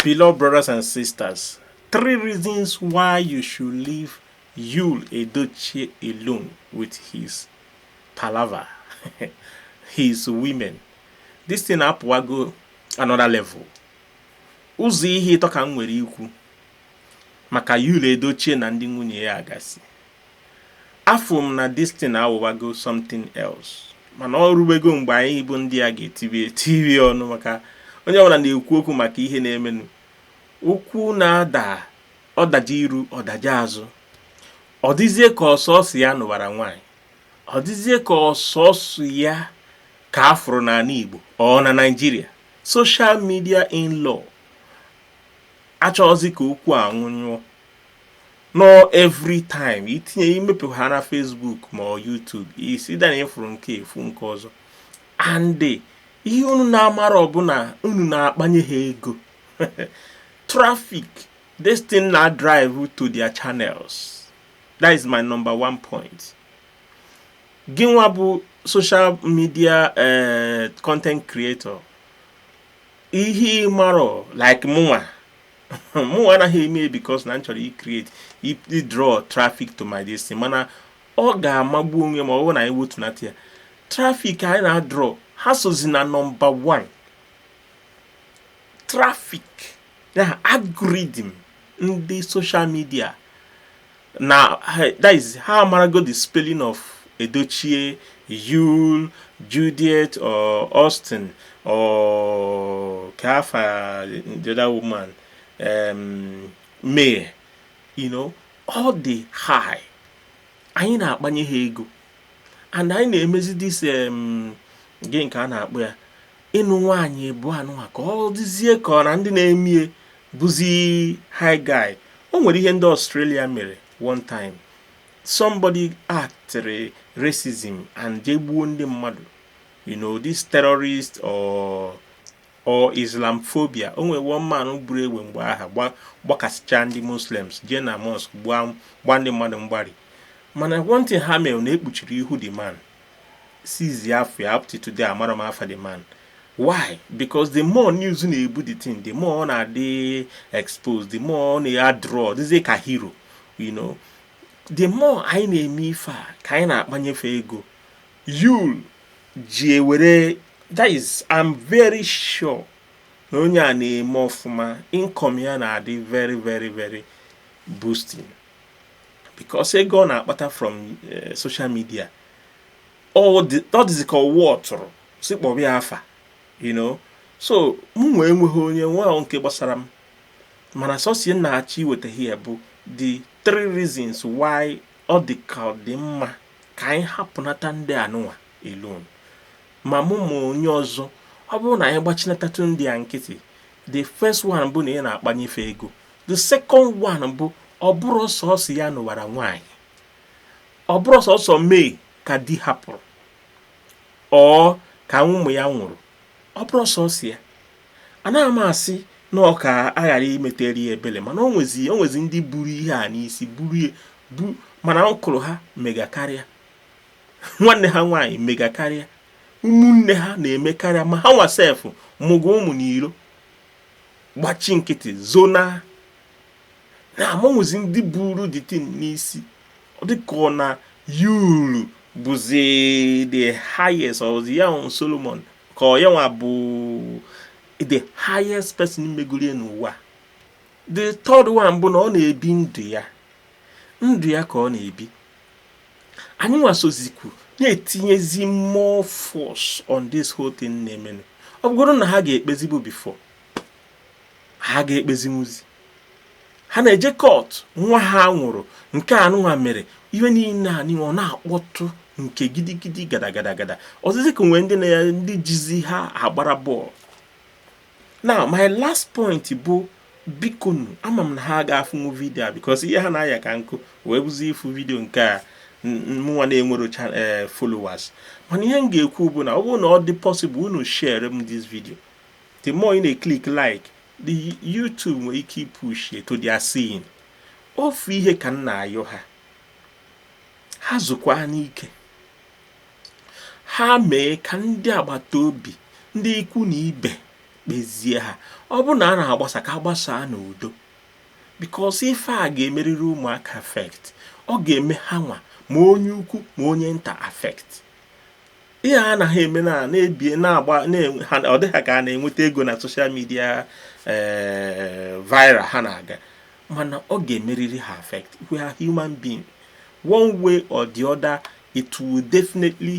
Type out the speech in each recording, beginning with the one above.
Beloved brothers and sisters, three reasons why you should leave Yul Edochie alone with his palava, his women. This thing apụwago another level. Ụzọ ihe ịtọ ka m nwere ikwu maka Yul Edochie na ndị nwunye ya gasị. afụ m na this thing awụwago something else mana ọ rubego mgbe anyị bụ ndị a ga-etibi etibi ọnụ maka onye ọbụla na-ekwu okwu maka ihe na-emenụ okwu na-ada ọ daje iru ọ daje azụ ọ dịzie ka ọ sọsọ ya nụbara nwaanyị ọ dịzie ka ọ sọsọ ya ka a fụrụ n'ala Igbo or na Naịjirịa social media in law achọghịzi ka okwu a nwụnyụọ no every time i tinye i mepe ha na Facebook ma ọ YouTube isi dana ị fụrọ nke a ị fụ nke ọzọ and ihe unu na-amarọ bụ na unu na-akpanye ha ego traffic this thing na-adrive to their channels that is my number one point gị nwa bụ social media eh, content creator ihe ị marọ like mụnwa mụ anaghị eme ya because na m chọrọ icreate idraw traffic to my this thing mana ọ ga-amagbu onwe ma ọ bụrụ na anyị wetunata ya traffic anyị na-adraw ha sozi na number 1 traffic na algorithm ndị social media na that is ha amarago the spelling of Edochie Yul Judith or Austin or kee afa the other woman um, May you know all the high anyị na-akpanye ha ego and anyị na-emezi this um, gịnị ka a na-akpọ ya ịnụ nwaanyị ịbụa nụnwa ka ọ dịzie ka ọ na ndị na-emie bụzi high guy o nwere ihe ndị Australia mere one time somebody acted racism and jee gbuo ndị mmadụ you know this terrorist or or Islamophobia o nwere one man buru egbe mgbe aha gbakasịcha ndị Muslims jee na mosque gbaa ndị mmadụ mgbari mana one thing ha mere na e kpuchiri ihu the man seize afa ya up to today amarọ m afa the man why because the more news na-ebu the thing the more ọ na-adị exposed the more ọ na-adraw dịzie ka hero you know the more anyị na-eme ife a ka anyị na-akpanyefe ego Yul ji ewere that is I'm very sure na onye a na-eme ọfụma income ya na-adị very very very boosting because ego ọ na-akpata from eh, social media ọ dịzi ka ọ wụ ọ tụrụ sị kpọrọ ya afa you know so mụnwa enweghị onye nwa nke gbasara m mana sọsọ ihe m na-achọ iweta here bụ the three reasons why ọ dị ka ọ dị mma ka anyị hapụnata ndị anụnwa alone ma mụ ma onye ọzọ ọ bụrụ na anyị gbachinatatụ ndị a nkịtị the first one bụ na a na-akpanye fa ego the second one bụ ọ bụrọ sọsọ ya nụwara nwaanyị ọ bụrọ sọsọ May ka di hapụrụ or ka ụmụ ya nwụrụ ọ bụrọ sọsọ ya anaghị m asị na ọ ka a ghara imetere ya ebele mana o nwezi o nwezi ndị buru ihe a n'isi buru ya bu mana ọkụrụ ha mega karịa nwanne ha nwaanyị mega karịa ụmụnne ha na-eme karịa ma ha nwa sef mụgo ụmụ n'iro gbachi nkịtị zona mana o nwezi ndị buru the thing n'isi ọ dịka ọ na Yul bụzi the highest ọ bụzi ya Solomon ka ọ yanwa bụ the highest person megoro n'ụwa the third one bụ na ọ na-ebi ndụ ya ndụ ya ka ọ na-ebi anyịnwa sozikwu na-etinyezi more force on this whole thing na-emenụ ọ bụgodu na ha ga-ekpezibu before ha ga-ekpezinwuzi ha na-eje court nwa ha nwụrụ nke anụnwa mere ihe niile anyị ọ na-akpọtụ nke gidigidi gada gada gada ọ dịzi ka e nwere ndị na ya ndị jizi ha agbara bọọlụ now my last point bụ bikonu ama m na ha ga-afụnwu vidio a because ihe ha na-aya ka nkụ wee bụzi ịfụ vidio nke a mụnwa na-enwerọ eh, followers mana ihe m ga-ekwu bụ na ọ bụrụ na ọ dị possible unu share m this video the more ị na-eklik like the YouTube nwere ike ipush ya to their scene ofu ihe ka m na-ayọ ha ha zukwaanụ ike ha mee ka ndị agbata obi ndị ikwu na ibe kpezie ha ọ bụrụ na a na-agbasa ka a gbasaa n'udo because ife a ga-emerịrị ụmụaka affect ọ ga-eme ha nwa ma onye ukwu ma onye nta affect ihe a na ha eme na na-ebie na-agba ọ dị ha ka a na-enweta ego na social media eh, viral ha na-aga mana ọ ga-emerịrị ha affect we are human being one way or the other it will definitely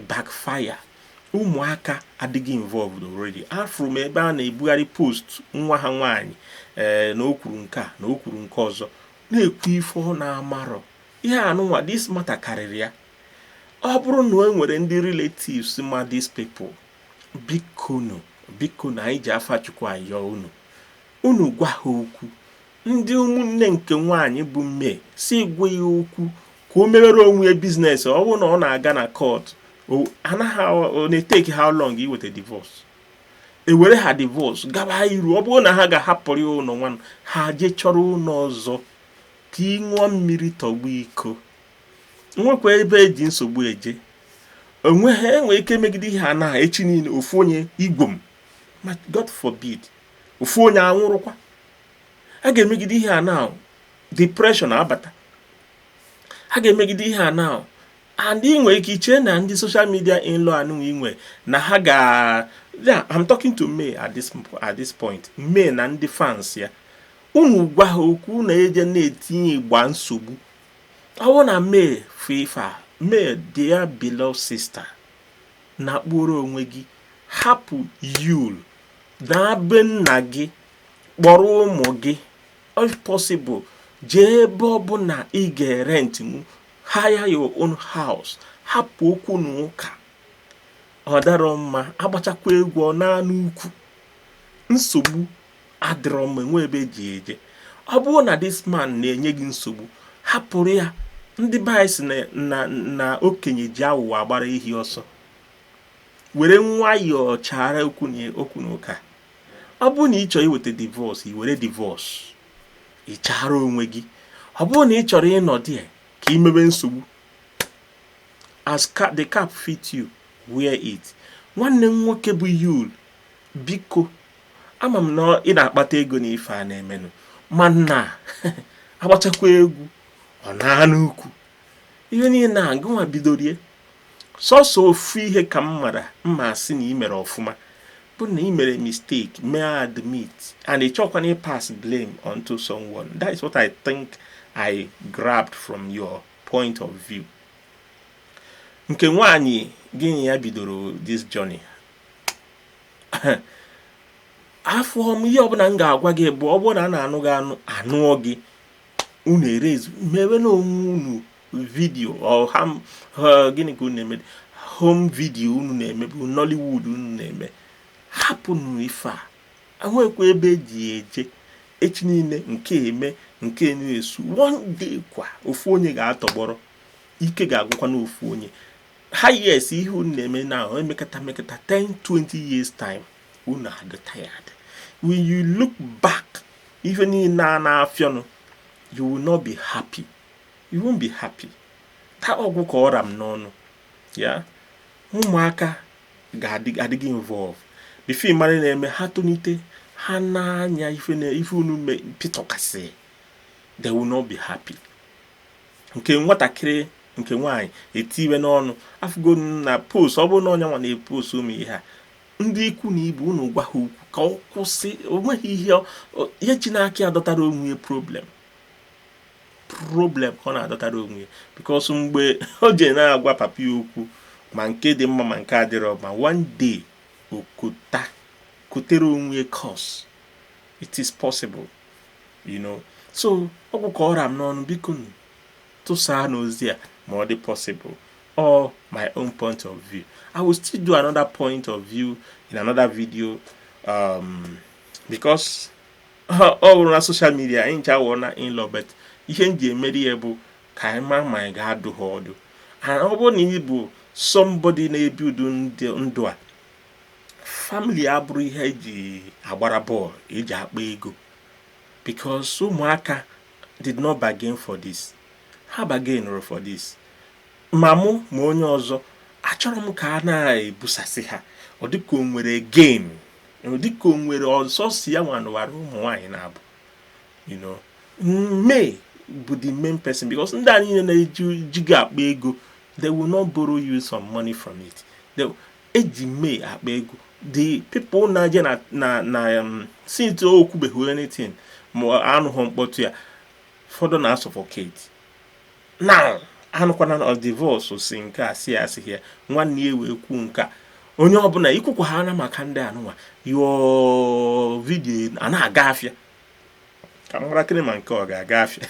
backfire ụmụaka adịgo involved already afụrụ m ebe a na-ebugharị post nwa ha nwaanyị ee eh, na o kwuru nke a na o kwuru nke ọzọ na-ekwu ife ọ na-amarọ ihe anụnwa this matter karịrị ya ọ bụrụ na e nwere ndị relatives ma these people bikonu bikonu anyị ji afa Chukwu ayọ unu unu gwa ha okwu ndị ụmụnne nke nwaanyị bụ May sị gwa ya okwu ka o mewere onwe ya business ọ bụrụ na ọ na-aga na court anaghị ọ na-eteki how long iweta divorce ewere ha divorce gaba iru ọ bụrụ na ha ga-ahapụrụ ụnọ nwa ha je chọrọ ụnọ ọzọ ka ị ṅụọ mmiri tọgbọ iko nwekwa ebe eji nsogbu eje onwe ha enwee ike megide ihe a na echi niile ofu onye igwom ma God forbid ofu onye anwụrụkwa a ga-emegide ihe a now depression abata a ga-emegide ihe a now and ị nwere ike iche na ndị social media in-law anụnwa i nwe na ha ga yeah, I'm talking to May at this, at this point May na ndị fans ya unu gwa ha okwu na eje na-etinye igba nsogbu ọ bụ na May fifa May dear beloved sister na kpụrụ onwe gị hapụ Yul naa be nna gị kpọrọ ụmụ gị if possible jee ebe ọbụna ị ga-erent hire your own house hapụ okwu na ụka ọ darọ mma agbachakwa egwu ọ naa n'ukwu nsogbu adịrọ mma enwe ebe eji eje ọ bụrụ na this man na-enye gị nsogbu hapụrụ ya ndị be anyị sị na okenye ji awụwọ agbara ehi ọsọ were nwayọọ chara okwu na ụka ọ bụrụ na ị chọrọ iweta divorce i were divorce ị chara onwe gị ọ bụrụ na ị chọrọ ịnọ there ka ị mewe nsogbu as the cap fit you wear it nwanne m nwoke bụ Yul biko ama m na ị na-akpata ego na ife a na-emenụ mana agbachakwa egwu ọ naa n'ukwu ihe niile na agụnwa bidorie sọsọ ofu ihe ka m mara mma asị na ị mere ọfụma bụ na ị mere mistake mee admit and ị chọkwana ị pass blame onto someone that is what I think I grabbed from your point of view nke nwaanyị gị na ya bidoro this journey afụ m ihe ọbụna m ga-agwa gị bụ ọ bụrụ na a na-anụ gị anụ anụọ gị unu erezi mewe na onwe unu video gịnị ka unu na-eme home video unu na-eme bụ Nollywood unu na-eme hapụnụ ife a enwekwa ebe eji eje echi niile nke eme nke na-esu one day kwa ofu onye ga-atọgbọrọ ike ga-agwụkwanụ ofu onye ha yes ihe unu na-eme na emekata mekata 10 20 years time unu adị tired when you look back ihe niile a na-afịọnụ you will not be happy You won't be happy. Taa ọ gwụ ka ọ ra m n'ọnụ. Ya ụmụaka adịghị involve. Before ị mara na-eme ha tonite ha n'anya ife na ife unu pịtọkasị. They will not be happy. Nke nwatakịrị nke nwaanyị etiwe n'ọnụ afụgo na post ọ bụrụ na ọ yanwa na-epost ụmụ ihe a ndị ikwu na ibe unu gwa ya okwu ka ọ kwụsị o nweghị ihe ihe ji n'aka ya dọtara onwe problem problem ka ọ na-adọtara onwe ya because mgbe o ji na-agwa papa ya okwu ma nke dị mma ma nke adịrọ mma one day o kota kotere onwe ya cos it is possible you know so ọ gwụ ka ọ ra m n'ọnụ bikonu tụsaanụ ozi a ma ọ dị possible or my own point of view i will still do another point of view in another video um, because ọ bụrụ na social media anyị ncha wụ online in-law but ihe m ji emeri ya bụ ka anyị ma ma anyị ga-adụ ha ọdụ and ọ bụrụ na ị bụ somebody na-ebi ụdị ndụ a family abụrọ ihe e ji agbara ball e ji akpa ego because ụmụaka did not bargain for this ha bargainịrọ for this ma mụ ma onye ọzọ achọrọ m ka a na-ebusasị ha ọ dịka o nwere game dịka o nwere ọzọ si ya nwanụwara ụmụ nwaanyị na-abụ May bụ the main person because ndị a niile na-eji gị akpa ego they will not borrow you some money from it e ji May akpa ego the people na-eje na na na um, since o kwubeghị anything ma anụghị mkpọtụ ya ụfọdụ na-asuffocate na anụkwana na divorce si nke a si asị ya nwanne ya wee kwuo nke a onye ọbụla ikwukwa ha na maka ndị anụnwa yọọ video a na-aga afịa ka m marakịrị ma nke ọ ga-aga afịa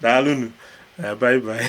daalụnụ bye bye